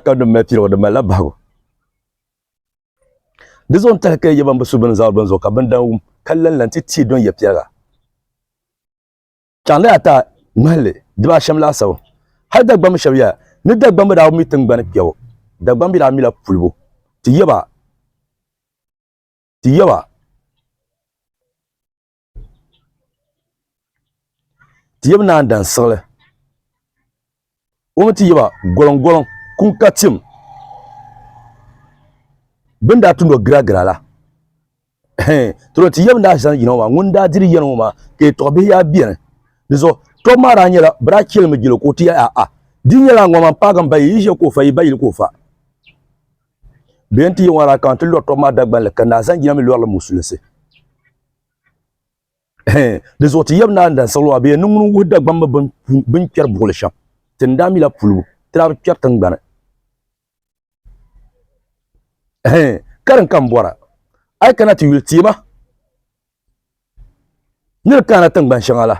ka di mali piligu di malila bahigu di zuɣu n tahi ka yɛ ban bi su bin zaɣi bin zuɣu ka bin dan wum ka lanla n ti tii don yɛ piɛliga chaŋ la ata ŋmalili diba ashɛm laasabu hali dagbambi shɛba yɛla ni dagbambi daa mi tingbani kpɛbu dagbambi daa mila pulibu ti yɛba ti yɛba ti yɛbi naan dan siɣili o mi ti yɛba gɔliŋgɔliŋ kum ka tim bɛn daa tumdi o giragira la tolo ti yɛbi daa zani yina ŋɔ maa ŋun daa diri yɛli ŋɔ maa ka yɛtɔɣ bihi yaa bɛni di zuɣu tɔbu maa daa nyɛla bɛ daa chɛlimi jɛli o ka o ti yɛli aa di nyɛla ŋɔ man paagi m ba yi yi ʒiya ka o fa yi ba yili ka o fa Bɛ yɛn ti yi ŋɔ rakan ti lɔri tɔbu maa Dagbanli ka naa Zanjina mi lɔrili Musulinsi. Di zuɣu ti yɛbi naa n-dan siɣili maa bɛ yɛn ni ŋuni wuhi Dagbamba bɛ ni kpɛri buɣili shɛm ti ni daa mi la pulibu ti daa bi kpɛri tiŋgbani. Karim ka m bɔra a yi kana ti yuli teema ni di kahina tiŋgbani shɛŋa la.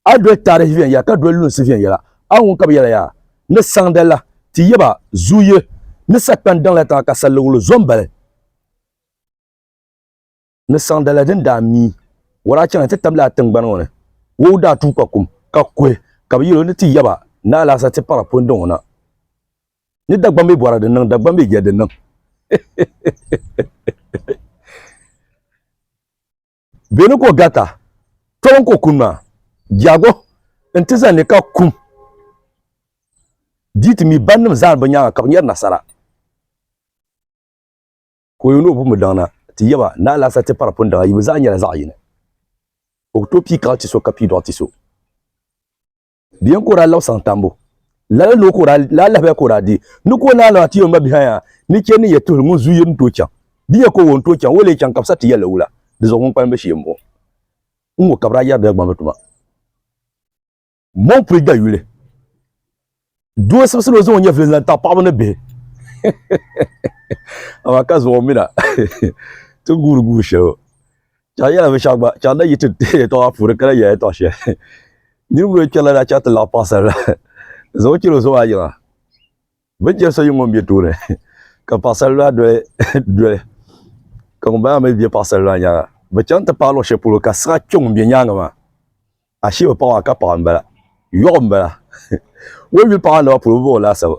A doli taarihi viɛnyɛla ka doli lunsi viɛnyɛla. A ŋun ka bi yɛla yaa ni saŋda la, ti yaba zuuye ni sakpani daŋ la tiŋa ka saliligulu zo m-bali ni saŋda la din daa mi war a chaŋ ti tabili a tiŋgbani ŋɔ ni. Wou daa tuui ka kum, ka kuhi ka bi yɛl o ni ti yaba ni alaasa ti paɣir pun daŋ o na. Ni Dagbam bee bɔra din niŋ, Dagbam bee jɛli din niŋ. Bɛ ni ko gata, tɔbu n-ko kuni maa, Jago n-ti zani ni ka kum di ti mi bannim zani bɛ nyaaŋa ka bɛ nyari nasara. Ka o yuli o pumbudaŋ na ti yɛba ni alaasa ti pari pundaŋa yi bɛ zaa nyɛla zaɣ yini. O ku tooi pii kaɣ ti so ka pii dɔɣ ti so. Biɛn ka o daa laɣi saŋ tambu. Lala ni o ka o daa laa lahabaya ka o daa deei. Ni ka o naai lan ti o ma bihi aya ni chɛ ni ya tuhi ŋun zuyu ni tooi chaŋ. Di ya ka o wo n-tooi chaŋ o lee chaŋ ka bɛ sa ti ya la wula? Di zuɣu ŋun kpalim be shee m-bɔŋɔ. N ŋɔ ka bɛ daa yɛri Dagbamba bɛ tuma. Mɔmpuli dayuli. Doo sibisili o zaŋ o nyɛvili n-zaŋ taɣi paɣiba ni bihi. Amaa ka zuɣu o mi na ti guuri guuri shɛli o. Chɛri yɛla bi shɛba gba chɛri la yi ti yɛtɔɣa puuni ka la yɛla yɛtɔɣa shɛli niriba bɛ chɛri la daa chɛri ti laɣi paɣasara la zaŋ o chɛli o zuɣu a yiŋa bi ni chɛri so yini ŋɔ n bɛ tooni ka paɣasara la doli doli ka ŋun bala maa mi bɛ paɣasara la yɛanga bi chaŋ ti paai luɣi shɛli polo ka siɣa kpɛ ŋun bɛ yɛanga maa. Ashee o paɣa maa ka paɣa m-bala. Yɔɣu m-bala. O yuli paɣa naba polo bi ba o laasabu.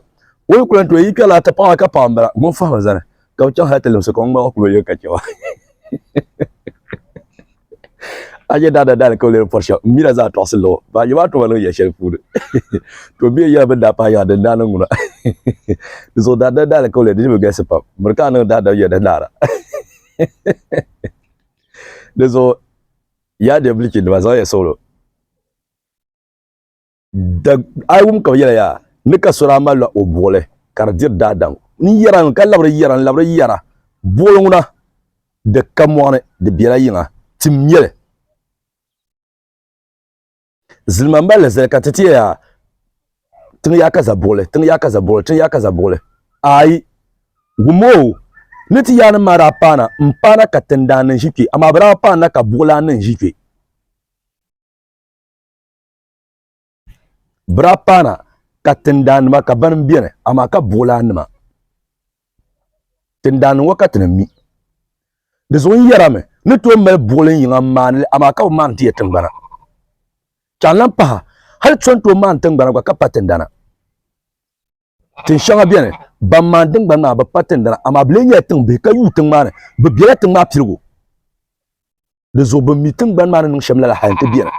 O yi ku lan tooi yi kpɛri laa ti paɣa maa ka paɣa m-bala. Ŋun fahim a zani ka bi chaŋ hal ti limsi ka o ŋmaligi kul o yɛli ka chɛ ba. A je daa da daali ka o leeri pɔri shɛm m-mi la zaa tɔɣisi luɣ o. Baa je maa tuma niŋ yɛl shɛli puuni. To bee yɛla bɛ ni daa pahi yaŋa din daa niŋ ŋuna. Di zuɣu daa da daali ka o leeri di ni bi galisi pam. Miri ka a niŋ daa dab yɛda naara. Di zuɣu. Yaa Dɛbilichindima, zaŋya suɣilo. Dag a yi wum ka bɛ yɛla yaa, ni ka so daa malila o buɣili ka di diri daadam. N yɛra ŋ, ka labiri yɛra, n labiri yɛra, buɣili ŋuna, di ka mɔɣu ni, di bela yiŋa, tim nyɛ li. Zilima mali li zali ka ti tiya yaa tiŋ yaa ka zabuɣili, tiŋ yaa ka zabuɣili, tiŋ yaa ka zabuɣili. Ayi, gumoo ni ti yaanim maa daa paana m-paana ka tindaan ni ʒi kpe, amaa bɛ daa paani la ka buɣilaan ni ʒi kpe. Bɛ daa paana ka tindaannima ka banim beni, amaa ka buɣilaannima. Tin daa niŋ o ka ti ni mi. Di zuɣu n yɛrami ni tooi mali buɣilin yiŋa n maani li, amaa ka bi maani ti ya tiŋgbana. Ka n lan pahi, hali so ni tooi maani tiŋgbana gba ka pa tindana. Tin shɛŋa beni, ban maani tiŋgbani maa bi pa tindana, amaa bɛ lee nyɛla tiŋ bihi ka yuui tiŋ maa ni, bɛ bela tiŋ maa piligu. Di zuɣu bɛ mi tiŋgbani maa ni niŋ shɛm lala hal nti beni.